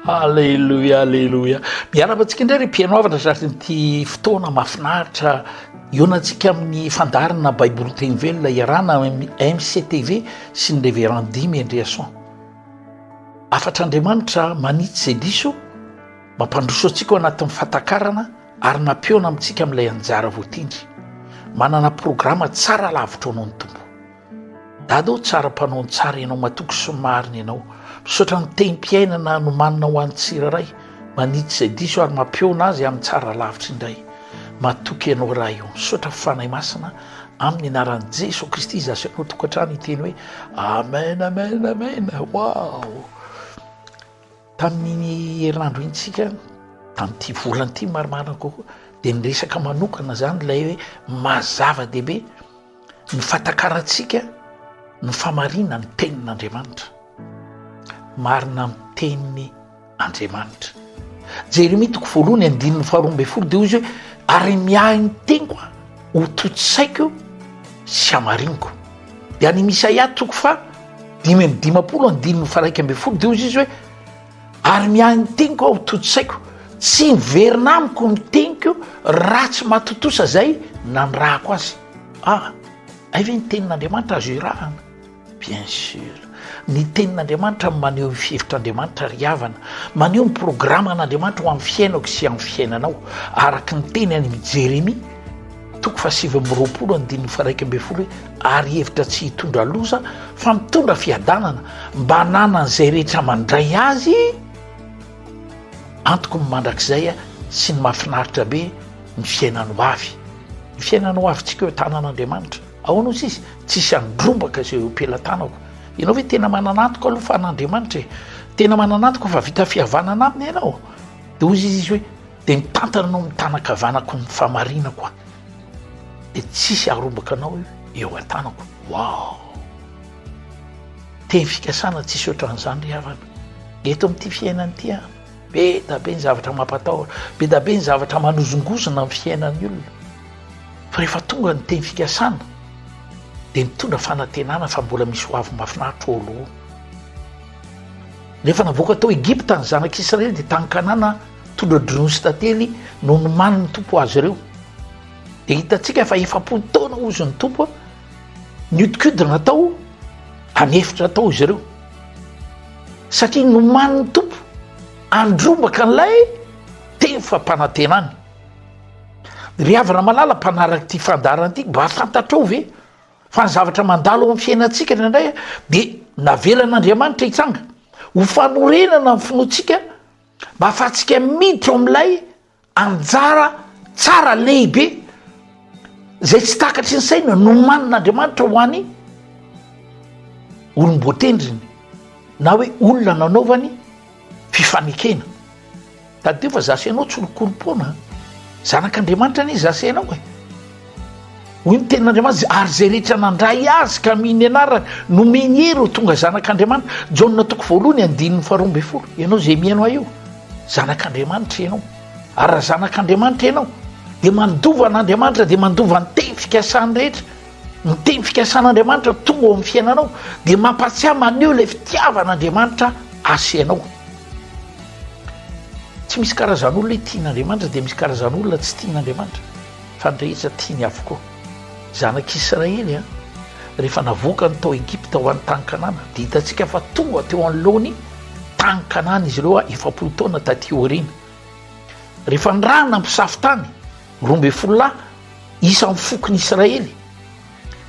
Aleloia, aleloia. Miarahaba antsika indray ry mpihaino havana sasy ity fotoana mahafinaritra ionantsika amin'ny fandaharana Baiboly teny velona iarahana amin'ny MCTV sy ny Reverend Dimy Andriason. Afatr'Andriamanitra manitsy izay diso, mampandroso antsika ao anatin'ny fatakarana ary nampiona amintsika amin'ilay anjara voatendry. Manana programa tsara lavitra ao noho ny Tompo. Dada o tsara mpanao ny tsara ianao matoky sy marina ianao misaotra ny tehim-piainana nomanina ho an'ny tsirairay manitsy izay diso ary mampihaona azy amin'ny tsara lavitra indray matoky ianao raha io misaotra fanahy masina amin'ny anaran'i Jesoa Kristy izy asy anao tokantrano iteny hoe amen amen amen wow tamin'ny herinandro intsika tamin'ity volan'ity marimarina kokoa dia niresaka manokana zany ilay hoe mazava-dehibe Ny fatakarantsika no famarinan'ny tenin'Andriamanitra. Marina amin'ny teniny Andriamanitra. Jeremia toko voalohany andininy faharoa ambin'ny folo dia hoy izy hoe ary miahy ny teniko ho tontosaiko sy hamariniko. Dia any Misaia toko fa dimy amby dimapolo andininy faraika ambin'ny folo dia hoy izy hoe Ary miahy ny teniko aho tontosaiko, tsy miverina amiko ny teniko raha tsy mahatontosa izay nanirahako azy. Ah, hay ve ny tenin'Andriamanitra azo irahana? Bien sûr. Ny tenin'Andriamanitra no maneho ny fihevitr'Andriamanitra ry havana, maneho ny programan'Andriamanitra ho amin'ny fiainako sy amin'ny fiainanao, araka ny tenany amin'i Jeremia. Toko fahasivy amby roapolo andininy faharaika ambin'ny folo hoe ary hevitra tsy hitondra loza fa mitondra fiadanana mba hananan'izay rehetra mandray azy antoko ny mandrakizay sy ny mahafinaritra be ny fiainany ho avy ny fiainany ho avintsika eo tanan'andriamanitra ahoana ozy izy tsisy andrombaka izay eo pelatanako ianao hoe tena mananantoko aloha fa an'andriamanitra e tena mananantoko fa vita fihavanana aminy ianao de ozy izy izy hoe Dia mitantana anao mitana kavanako ny famarinako aho dia tsisy aharombaka anao eo an-tanako. Waouh! Teny fikasana tsisy ohatran'izany ry havana. Eto amin'ity fiainana ity an, be da be ny zavatra mampatahotra, be da be ny zavatra manozongozona ny fiainan'ny olona. Fa rehefa tonga ny teny fikasana dia mitondra fanantenana fa mbola misy ho avy mahafinaritra eo aloha. Rehefa navoaka tao Egypta ny zanak'Israely dia tany Kanana Tondra drony sy tantely no nomanin' ny Tompo azy ireo. Dia hitantsika fa efapolo taona hozy ny Tompo niodikodina tao any efitra tao izy ireo. Satria nomanin' ny Tompo andrombaka an'ilay teny fampanantenany. Ry havana malala mpanaraka ity fandaharana ity, mba fantatrao ve fa ny zavatra mandalo ao amin'ny fiainantsika indraindray dia navelan'Andriamanitra hitsanga ho fanorenana ny finoantsika Mba afahantsika miditra ao amin'ilay anjara tsara lehibe izay tsy takatry ny saina nomanin'Andriamanitra ho any olom-boatendriny na hoe olona nanaovany fifanekena. Tadidio fa zasy ianao tsy olon-korom-poana, zanak'Andriamanitra anie zasy ianao e. Hoy ny tenin'Andriamanitra, Ary izay rehetra nandray Azy ka mino ny anarany, nomeny hery ho tonga zanak'Andriamanitra. Jaona toko voalohany andininy faharoa ambin'ny folo. Ianao izay mihaino ahy io, zanak'Andriamanitra ianao. Ary raha zanak'Andriamanitra ianao, dia mandova an'Andriamanitra, dia mandova ny teny fikasany rehetra. Ny teny fikasan'Andriamanitra tonga ao amin'ny fiainanao, dia mampahatsiahy maneho ilay fitiavan'Andriamanitra Azy ianao. Tsy misy karazan'olona tian'Andriamanitra, dia misy karazan'olona tsy tian'Andriamanitra. fa ny rehetra tiany avokoa. Zanak'i Israely an! rehefa navoakany tao Egypta ho any tany Kanana, dia hitantsika fa tonga teo anoloany tany Kanana izy ireo efapolo taona taty aoriana. Rehefa nirahana mpisafo tany roa ambin'ny folo lahy isan'ny fokon'i Israely,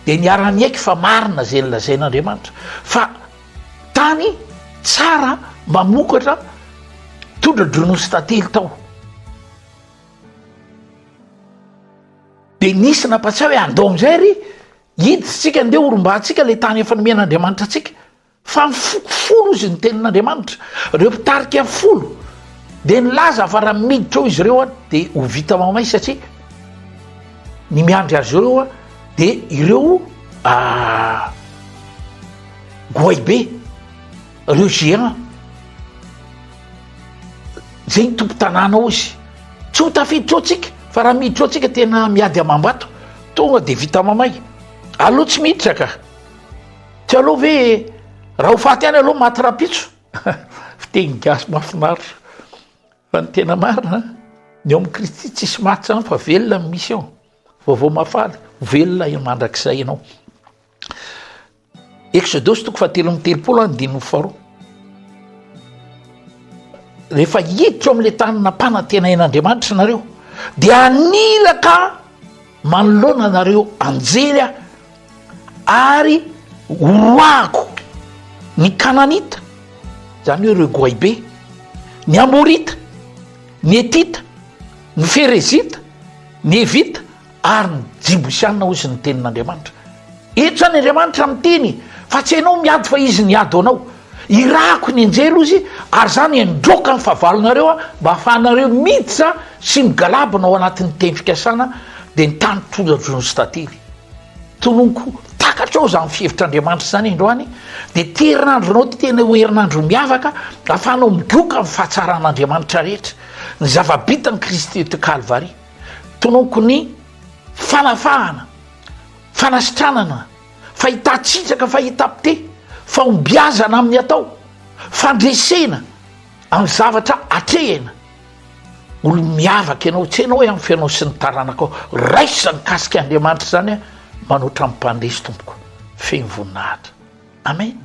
dia niara-niaiky fa marina izay nilazain'Andriamanitra fa tany tsara mamokatra tondra dronosy tantely tao. Dia nisy nampatsiahy hoe andao amin'izay ry hiditra isika andeha horombahantsika ilay tany efa nomen'Andriamanitra antsika fa ny foko folo izy ny tenin'Andriamanitra ireo mpitarika folo dia nilaza fa raha miditra ao izy ireo a dia ho vita mamay satria ny miandry azy ireo a dia ireo ah, goaibe Reo géant zay ny tompo tanàna ao izy tsy ho tafiditra ao tsika fa raha miditra ao tsika tena miady amam-bato tonga de vita mamay aloha tsy miditra ka tsy aloha ve raha ho faty any aloha maty rapitso fiteny gasy mafinaritra fa ny tena marina ny ao amin'ny kristy tsisy maty zany fa velona ny misy ao vaovao mafaly velona mandrakizay ianao Eksodosy toko fahatelo amby telopolo ary ny dimy amby faharoa. Rehefa hiditra ao amin'ilay tany nampanantenain'Andriamanitra ianareo dia haniraka manoloana anareo anjely aho ary horoahako ny Kananita, izany hoe ireo Goaibe, ny Amorita, ny Hetita, ny Ferezita, ny Hevita. Ary ny Jibosianina hoy izy ny tenin'Andriamanitra. Eto izany Andriamanitra miteny fa tsy ianao miady fa izy ny ady ho anao. Irahako ny anjely hoy izy ary izany handroaka ny fahavalonareo aho mba hahafahanareo miditra sy migalabona ao anatin'ny teny fikasana dia ny tany tondra-droa sy tantely. Tononiko takatrao izany fihevitr'Andriamanitra izany androany dia ity herinandro anao ity tena ho herinandro miavaka hahafahanao midroaka ny fahatsaran'Andriamanitra rehetra. Ny zava-bitan'i Kristy teo Kalvary. Tonoko ny fanafahana, fanasitranana, fahitan-tsitsaka, fahitam-pite, fahombiazana amin'ny atao, fandresena amin'ny zavatra atrehina. Olo miavaka ianao, tsy hainao hoe amin'ny fiainao sy ny taranakao. Raiso izany mikasika Andriamanitra izany, manoatra ny mpandresy tompoko, feno voninahitra. Amen.